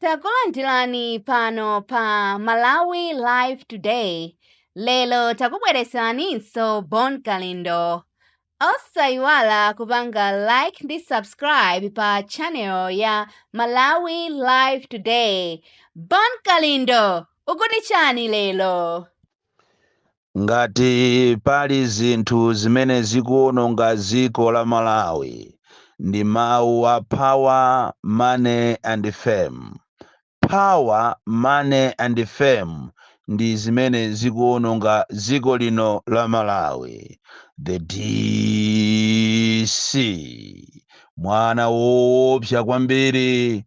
takulandirani pano pa malawi live today lero takubwereseraninso bon kalindo osayiwala kupanga like ndi subscribe pa channel ya malawi live today bon kalindo ukuti chani lero Ngati pali zinthu zimene zikuononga dziko la Malawi ndi mawu a power, money and fame. Power, money and fame ndi zimene zikuononga dziko lino la Malawi. The DC mwana woopsa kwambiri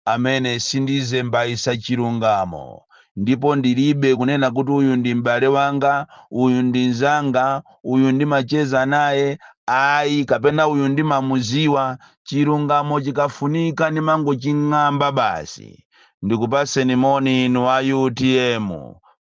amene sindizembayisa chilungamo ndipo ndilibe kunena kuti uyu ndi m'bale wanga, uyu ndi nzanga, uyu ndimacheza naye ayi kapena uyu ndimamuziwa, chilungamo chikafunika ndimangoching'amba basi. Ndikupaseni moni inu a utm,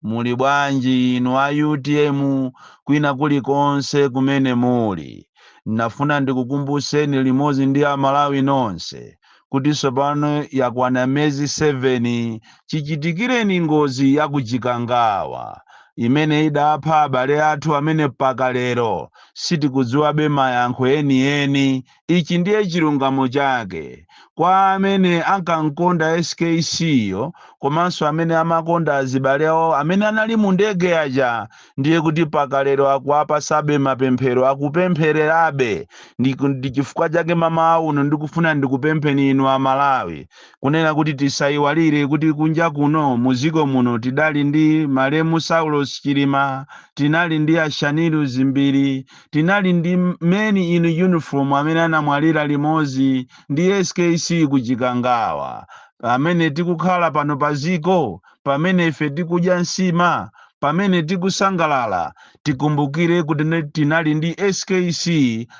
muli bwanji inu a utm kwina kulikonse kumene muli. Ndinafuna ndikukumbuseni limozi ndi a Malawi nonse kuti tsopano yakwana miyezi 7 chichitikireni ngozi ya ku Chikangawa imene idapha abale athu amene mpaka lero sitikudziwabe mayankho enieni. Ichi ndiye chilungamo chake kwa amene ankamkonda SKC yo komanso amene amakonda azibale awo amene anali mu ndege aja ndiye kuti paka lero akuwapasabe mapemphero akupemphererabe ndi, ndi chifukwa chake mamawa uno ndikufuna ndikupempheni inu amalawi kunena kuti tisayiwalire kuti kunja kuno muziko muno tidali ndi malemu saulos chilima tinali ndi a shanil dzimbiri tinali ndi men in uniform amene anamwalira limodzi ndi skc kuchikangawa pamene tikukhala pano paziko pamene ife tikudya nsima pamene tikusangalala tikumbukire kuti ne- tinali ndi skc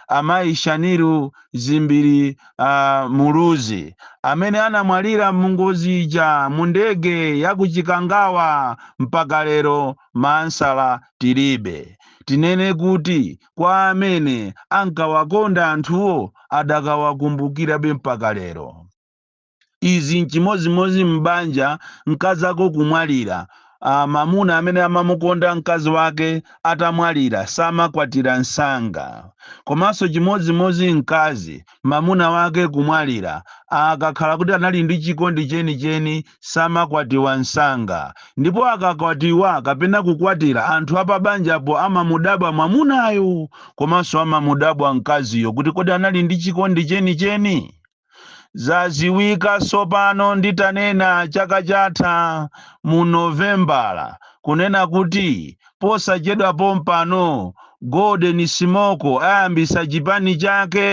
amayi shanil dzimbiri uh, muluzi amene anamwalira mungozi ija mu ndege ya kuchikangawa mpaka lero maansala tilibe tinene kuti kwa amene ankawakonda anthuwo adakawakumbukirabe mpaka lero Izi nchimodzimodzi m'banja, mkazako kumwalira, a, mamuna amene amamukonda mkazi wake atamwalira samakwatira msanga. Komanso chimodzimodzi mkazi, mamuna wake kumwalira, a, akakhala kuti anali ndi chikondi chenicheni samakwatiwa msanga. Ndipo akakwatiwa kapena kukwatira, anthu apabanjapo amamudabwa mwamunayo komanso amamudabwa mkaziyo kuti kodi anali ndi chikondi chenicheni? Zaziwika sopano nditanena chaka chatha mu Novembala kunena kuti posachedwa pompano Golden Smoke ayambisa chipani chake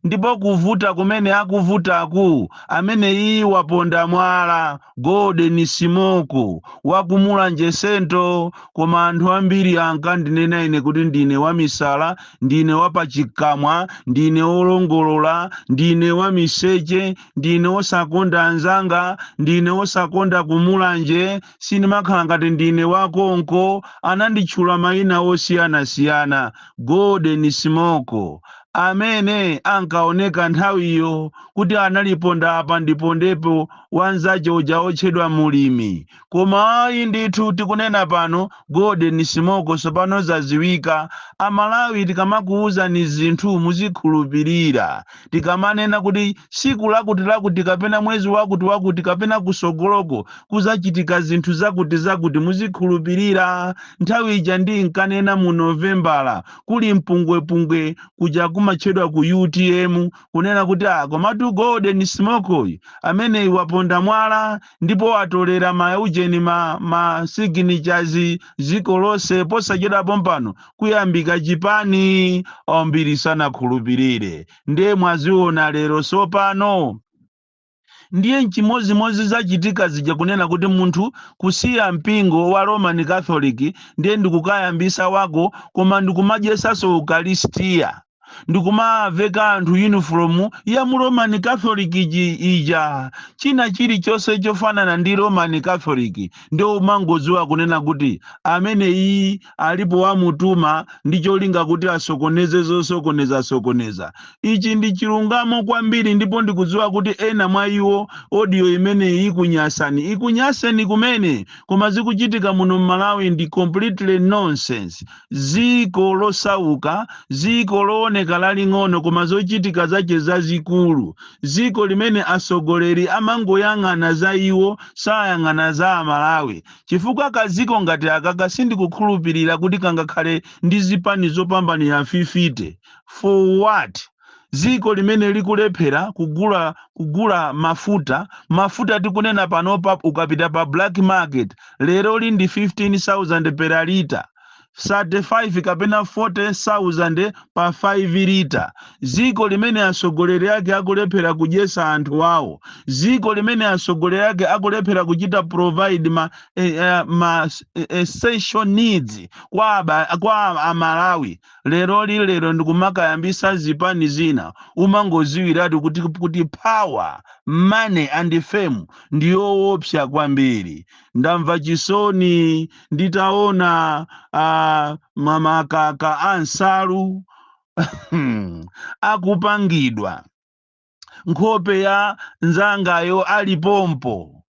ndipo kuvuta kumene akuvutaku ameneyii waponda mwala Golden Smoke waku Mulanje Central koma anthu ambiri ankandinena ine kuti ndine wamisala ndine wapachikamwa ndine wolongolola ndine wamiseche ndine wosakonda anzanga ndine wosakonda kumulanje sindimakhala ngati ndine wakonko ananditchula mayina osiyanasiyana golden smoke amene ankaoneka nthawiyo kuti analipondaponda apa ndipondepo wanzache uja otchedwa mulimi Koma ayi ndithu tikunena pano golden smoke sopano zaziwika amalawi tikamakuuzani zinthu muzikhulupilira tikamanena kuti siku lakuti lakuti kapena mwezi wakuti wakuti kapena kusogoloko kuzachitika zinthu zakuti zakuti muzikhulupilira nthawi ija ndinkanena mu novembala kuli mpungwepungwe kuja kumatchedwa ku utm kunena kuti a komatu golden smoke ameneyi waponda mwala ndipo watolera ma ujeni ma ma signatures ziko lose posachedwa pompano kuyambika chipani ambiri sanakhulupirire ndiye mwaziona lero sopano ndiye nchimozimozi zachitika zija kunena kuti munthu kusiya mpingo wa roman catholic ndiye ndikukayambisa wako koma ndikumadyesaso ukalistiya ndikumawaveka anthu yunifomu ya mu roman catholic iji- ija china chilichonse chofanana ndi roman catholic ndiye umangodziwa kunena kuti ameneyi alipo wamutuma ndi cholinga kuti asokoneze zosokoneza sokoneza ichi ndi chilungamo kwambiri ndipo ndikudziwa kuti ena mwa iwo odiyo imeneyi ikunyasani ikunyaseni kumene koma zikuchitika muno mmalawi ndi completely nonsense dziko losauka, dziko looneka laling'ono koma zochitika zache zazikulu, dziko limene atsogoleri amangoyang'ana za iwo sayang'ana za amalawi, chifukwa ka dziko ngati akaka sindikukhulupilira kuti kangakhale ndi zipani zopambana fifite, for what? dziko limene likulephera kugula kugula mafuta mafuta tikunena panopa ukapita pa black market lero li ndi 15000 per lita 35 kapena 40000 pa 5 lita dziko limene atsogoleri ake akulephera kudyetsa anthu awo dziko limene atsogoleri ake akulephera kuchita provide ma, eh, eh, ma eh, essential needs kwa, aba, kwa amalawi Leroli lero ndikumakayambisa zipani zina umangoziwiratu kuti kuti power, money and fame ndiyowopsa kwambiri. Ndamva chisoni nditaona ama- makaka a nsalu akupangidwa. nkhope ya nzangayo ili pompo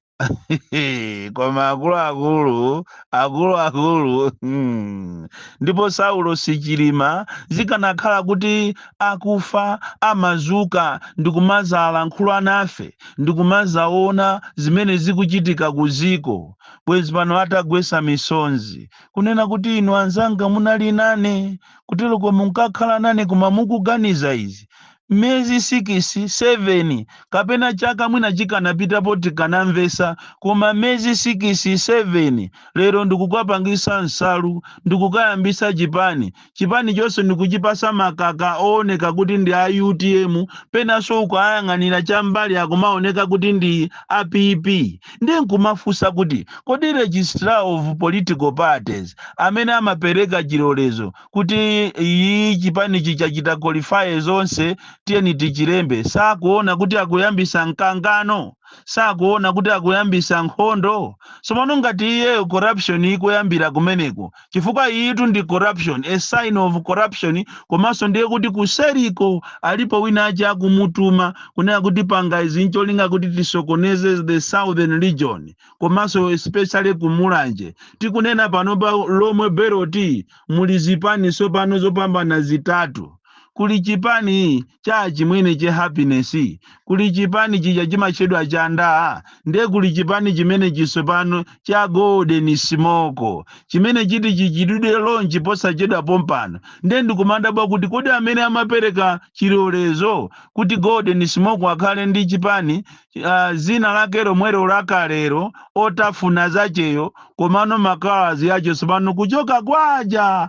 koma akuluakulu akuluakulu hmm. ndipo saulo sichilima zikanakhala kuti akufa amazuka ndikumazalankhula nafe ndikumazaona zimene zikuchitika ku ziko bwezi pano atagwesa misonzi kunena kuti inu anzanga munali nane kutereko munkakhala nane koma mukuganiza izi miyezi sikisi, seveni, kapena chaka mwina chikanapita poti tikanamvetsa, koma miyezi sikisi, seveni, lero ndikukapangisa nsalu, ndikukayambisa chipani, chipani chonse ndikuchipasa makaka owoneka kuti ndi a utm, penanso ukayang'anira chambali akumaoneka kuti ndi a PP, ndiye nkumafunsa kuti kodi registrar of political parties amene amapereka chilolezo kuti iyi chipanichi chachita qualify zonse tiyeni tichilembe sakuona kuti akuyambisa mkangano sakuona kuti akuyambisa nkhondo tsono mano ngati iyeyo corruption ikuyambira kumeneko chifukwa iyitu ndi corruption a sign of corruption komanso ndiye kuti kuseriko alipo wina wache akumutuma kunena kuti panga izi ncholinga kuti tisokoneze the southern region komanso especially kumulanje tikunena pano pa Lomwe belt Muli zipani tsopano zopambana zitatu. Kuli chipani cha achimwene che Happiness, kuli chipani chija chimatchedwa cha NDA, nde kuli chipani chimenechi tsopano cha Golden Smoke chimene chiti chichitidwe launch posachedwa pompano. Nde ndikumadabwa kuti kodi amene amapereka chilolezo kuti Golden Smoke akhale ndi chipani uh, zina lake lomwelo lakalero otafuna zacheyo komano ma colours ache tsopano kuchoka kwaja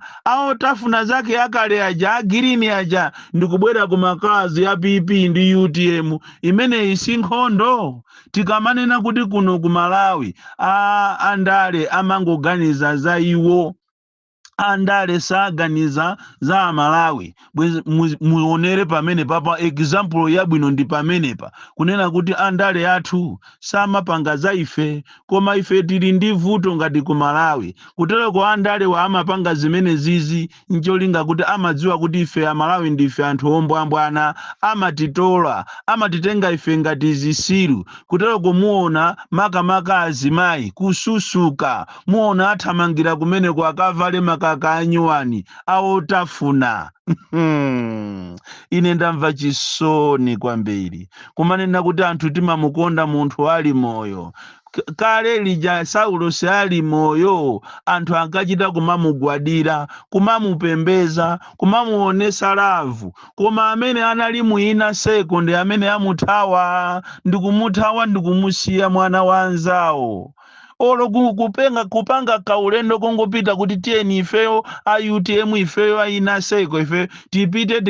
otafuna zake akale aja agirini aja ndikubwera ku ma colours ya pp ndi utm imeneyi si nkhondo tikamanena kuti kuno ku malawi a andale amangoganiza za iwo andale saganiza za amalawi bwezi mu- muonere pamene papa example yabwino ndi pamenepa kunena kuti andale athu samapanga za ife koma ife tili ndi vuto ngati ku malawi kutereko andalewa amapanga zimenezizi ncholinga kuti amadziwa kuti ife amalawi ndife anthu ombwambwana amatitola amatitenga ife ngati zisiru kutereko muona makamaka azimayi kususuka Muona athamangira kumeneko akavale makaka anyuwani a otafuna. Ine ndamva chisoni kwambiri kumanena kuti anthu timamukonda munthu ali moyo. K- Kale lija Saulosi ali moyo, anthu ankachita kumamugwadira, kumamupembeza, kumamuonesa lavu, koma amene anali mu inaseko ndi amene amuthawa, ndikumuthawa ndikumusiya mwana wa anzawo. olo kupanga kaulendo kungopita kuti tiyeni ifeyo a utm ifeyo a inaseko ifeyo tipite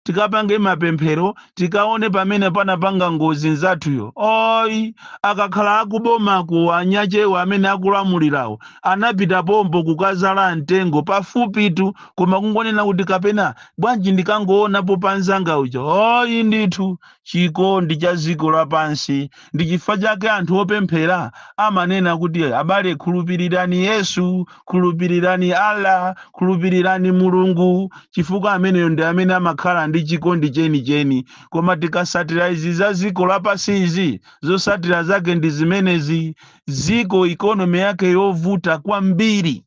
tikapange mapemphero tikaone pamene panapanga ngozi nzathuyo oyi akakhala akubomako anyachewa amene akulamulirawo anapita pompo kukazala mtengo pafupitu koma kungonena kuti kapena bwanji ndikangoonapo pa nzanga uja oyi ndithu chikondi cha dziko lapansi. Ndi chifukwa chake anthu opemphera amanena kuti, abale, khulupirirani Yesu, khulupirirani Allah, khulupirirani Mulungu, chifukwa ameneyo ndi amene amakhala ndi chikondi chenicheni. Koma tikasatira izi za dziko lapansi izi, zosatira zake ndi zimenezi, dziko economy yake yovuta kwambiri.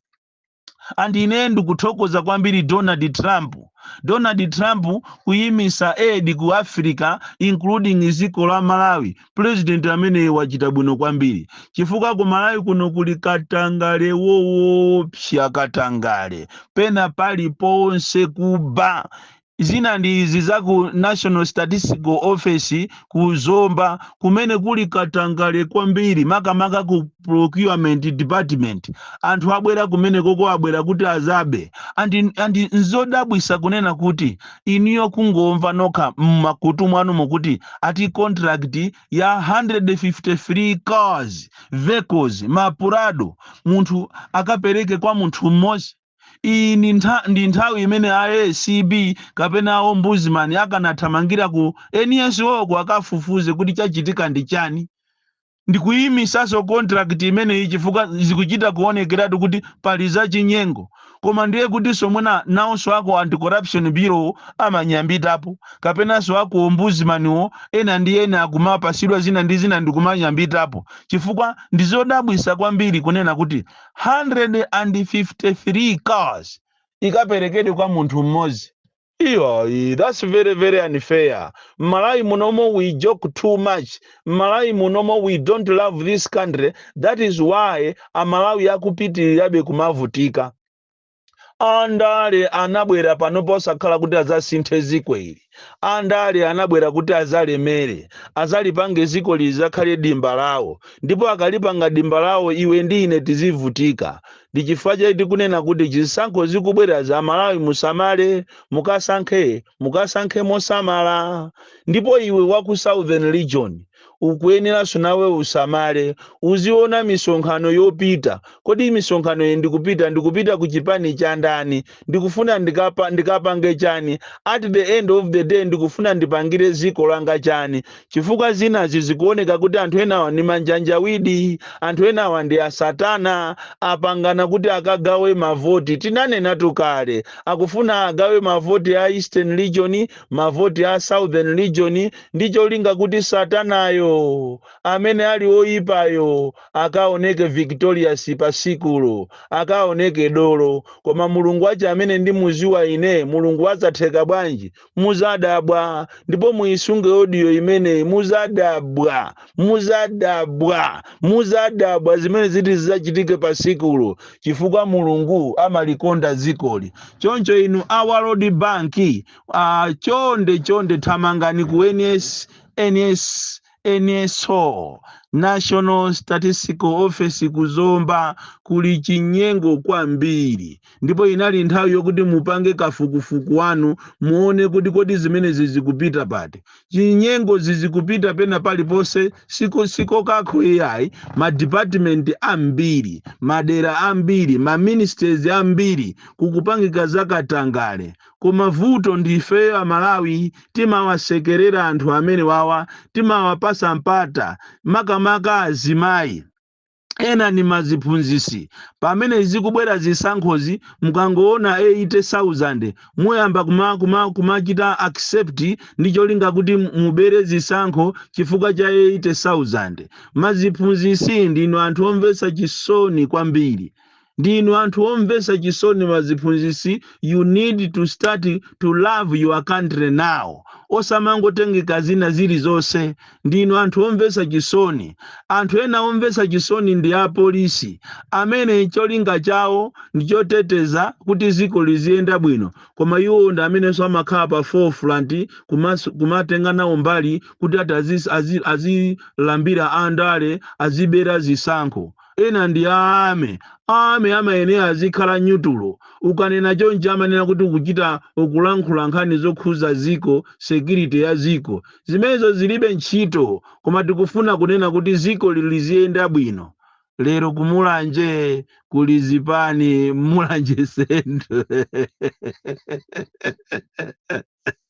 and ine ndikuthokoza kwambiri donald trump donald trump kuyimisa aid ku africa including dziko la malawi president ameneyo wachita bwino kwambiri chifukwa ku malawi kuno kuli katangale woopsa katangale pena paliponse kuba Zina ndi izi za ku National Statistical Office ku Zomba kumene kuli katangale kwambiri makamaka ku Procurement Department. Anthu abwera kumenekoko abwera kuti azabe and nzodabwisa kunena kuti inuyo kungomva nokha mmakutu mwanumo kuti ati contract ya 153 cars vehicles ma Prado munthu akapereke kwa munthu mmodzi Iyi ndi nthawi imene a ACB kapena a ombudsman akanathamangira ku NSO-ko akafufuze kuti chachitika ndi chani. Ndikuyimisaso contract imeneyi chifukwa zikuchita kuonekeratu kuti pali zachinyengo. Koma ndiye kutiso mwina nawonso a ku Anti-Corruption Bureau amanyambitapo, kapenaso a ku Ombudsman wo ena ndi ena akumapasidwa zina ndi zina ndikumanyambitapo. Chifukwa ndizodabwisa kwambiri kunena kuti. 153 cars ikaperekedwe kwa munthu mmodzi iyayi that's very very unfair mmalawi munomo we joke too much mmalawi munomo we don't love this country that is why amalawi akupitirirabe kumavutika andale anabwera pano osakhala kuti adzasinthe ziko ili andale anabwera kuti azalemere azalipange zikoli lizakhale dimba lawo ndipo akalipanga dimba lawo iwe ndi ine tizivutika ndi chifukwa chake tikunena kuti zisankho zikubwera aMalawi musamale mukasankhe mukasankhe mosamala ndipo iwe wa ku southern region ukuyeneranso nawe usamale uziona misonkhano yopita kodi misonkhano iyi ndikupita ndikupita ku chipani cha ndani ndikufuna ndikapa, ndikapange chani at the end of the day ndikufuna ndipangire ziko langa chani chifukwa zinazi zikuoneka kuti anthu enawa ndi ma Janjaweed anthu enawa ndi asatana apangana kuti akagawe mavoti tinanenatu kale akufuna agawe mavoti a eastern region mavoti a southern region ndi cholinga kuti Satanayo, amene ali woyipayo, akaoneke victorious pa tsikulo, akaoneke dolo. Koma Mulungu wake amene ndimudziwa ine, Mulungu wa zatheka bwanji? Mudzadabwa. Ndipo muisunge audio imeneyi, mudzadabwa, mudzadabwa, mudzadabwa zimene ziti zidzachitike pa tsikulo, chifukwa Mulungu amalikonda dzikoli. Choncho inu a World Bank, Ah, chonde chonde thamangani ku NS, NS, NSO National Statistical Office ku Zomba kuli chinyengo kwambiri ndipo inali nthawi yokuti mupange kafukufuku wanu muone kuti kodi zimenezi zikupita pati chinyengo zikupita pena paliponse siko siko kokha iyayi ma department ambiri madera ambiri ma ministries ambiri kukupangika zakatangale Koma vuto ndi ifeyo a Malawi timawasekerera anthu amenewawa timawapasa mpata makamaka azimayi Ena ndi maziphunzisi pamene zikubwera zisankhozi mukangoona 80,000 muyamba kuma kuma kumachita accept ndi cholinga kuti mubere zisankho chifukwa cha 80,000 maziphunzisi ndinu anthu omvetsa chisoni kwambiri Ndinu anthu omvesa chisoni ma ziphunzisi you need to start to love your country now osamangotengeka zina zilizose ndinu anthu omvesa chisoni anthu ena omvesa chisoni ndi a police amene cholinga chawo ndichoteteza kuti ziko liziyenda bwino koma iwowo ndi amenenso amakhala pa forefront kumas- kumatenga nawo mbali kuti ati azi- azi- azilambira andale azibera zisankho Ena ndi army. A army amayenera azikhala neutral. Ukanena chonchi amanena kuti ukuchita, ukulankhula nkhani zokhuza dziko, security ya dziko. Zimenezo zilibe ntchito. Koma tikufuna kunena kuti dzikoli liziyenda bwino. Lero ku Mulanje kuli chipani Mulanje Central.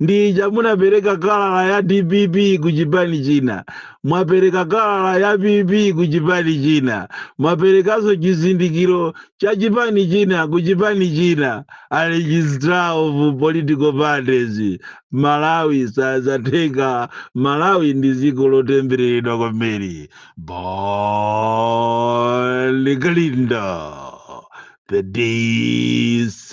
ndiye mwapereka kalala ya dpp ku chipani china mwapereka kalala ya pp ku chipani china mwaperekanso chizindikiro cha chipani china ku chipani china a registrar of political parties malawi sazatheka malawi ndi dziko lotembereredwa kwambiri bon kalindo the dc